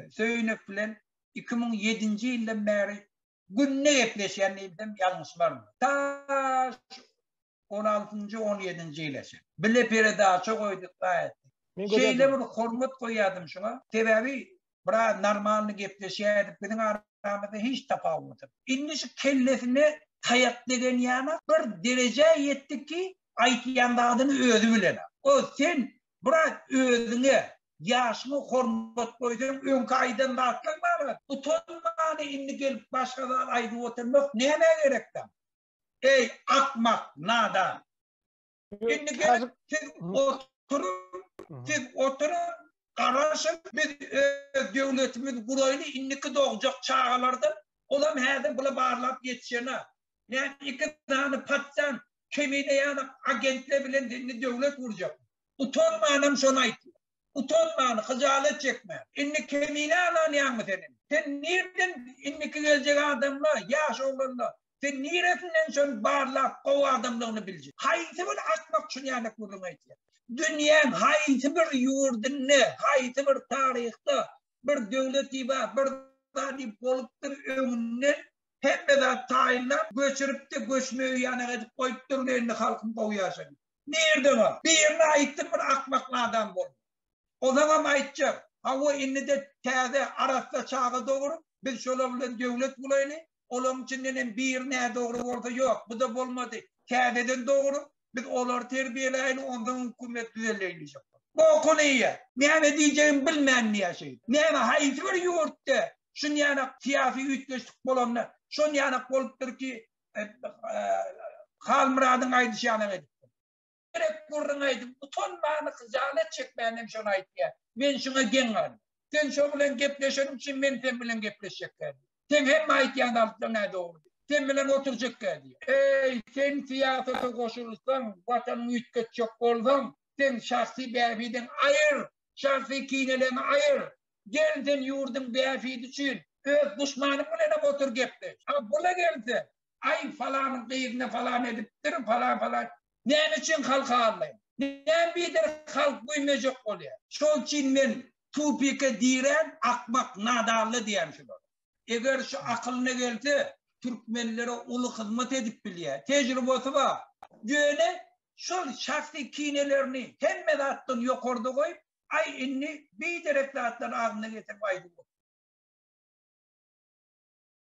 Söýünek bilen 2007-nji ýyldan bäri günde gepleşýän diýsem ýalňyşmam. Ta 16-njy, 17-nji ýyla çenli. Bile peredaça goýduk gaýat. Şeýle bir hormat goýýardym şuňa. Sebäbi bra normalny gepleşýärdik. Biziň aramyzda hiç tapawut. Indi şu kellesine taýak degen ýana bir derejä ýetdi ki, aýtýan zadyny özi bilen. O sen Brat özüňe, ýaşyňa hormat goýsaň öňki aýdan zatlaň barada utanmany indi gelip başga zat aýdyp oturmak nämä gerek daň? Eý akmak, nadan. Indi gelip siz oturyň, siz oturyň, garaşyň biz öz döwletimizi guraýly indiki dogjak çagalardan olam häzir bula barlap ýetişenä. Näme iki sany patjan Kemine ýanak agentle bilen dilini döwlet urjak. Utanmanam şony aýtýa. Utanman, hyjalet çekmän. Indi kemine alanýaňmy sen indi? Sen nirden indiki geljek adamla, ýaş oglanla, sen niresinden şony barlap gowy adamlygyny biljek? Haýsy bir akmak şuny ýanak gürrüň aýtýa? Dünýäň haýsy bir ýurdynda, haýsy bir taryhda bir döwleti bar, bir zady bolupdyr öňünden Hemme zat taýynlap, göçüripdi, göçmegi ýanak edip goýupdyr, ine indi halkym gowy ýaşaýar. Nirde bar? Birine aýtdyň bir akmak nadam bolup. Ozaňam aýtjak. Hawa, indi-de täze, arassa çaga dogurup, biz şolar bilen döwlet bolaýly, olaň içindenem biri nädogry bolsa, ýok, bu-da bolmady, täzeden dogurup, Biz olary terbiýeläýin, onsoň hökümet düzelýär diýjek. Bokun iýýär. Näme diýjegini bilmän diýýär şeýdip. Näme haýsy bir ýurtda şunýanak syýasy üýtgeşlik bolanda şonýanak bolupdyr ki, Halmyradyň aýdyşýanak edipdir. Gerek gürrüň aýdyp utanmany hyjalat çekmän hem şony aýtýar. Men şuňa geň galdym. Sen şo bilen gepleşeniň üçin men sen bilen gepleşjekkä diýip. Sen hemme aýtýan zalytlaň nä dogry. Sen bilen oturjak geldi. Eý, sen syýasata goşulsaň, watanyňy üýtgetjek bolsaň, sen şahsy bähbidiň aýyr, şahsy kineleňi aýyr. Gel sen ýurduň bähbidi üçin öz duşmanyň bilenem otur gepleş. A bula gelse, Aý falanyň gyzyna falan edipdir, falan falan. Näme üçin halk aldaýar? Näme bider halk güýmejek bolýar? Şol üçin men tupike diýrän akmak nadanly diýän şular. Eger şu akylyna gelse türkmenlere uly hyzmat edip bilýär. Tejribasy bar. Ýöne şol şahsy kinelerini hemme zatdan ýokarda goýup aý indi biderek zatlary agzyna getirip aýdyp otyr.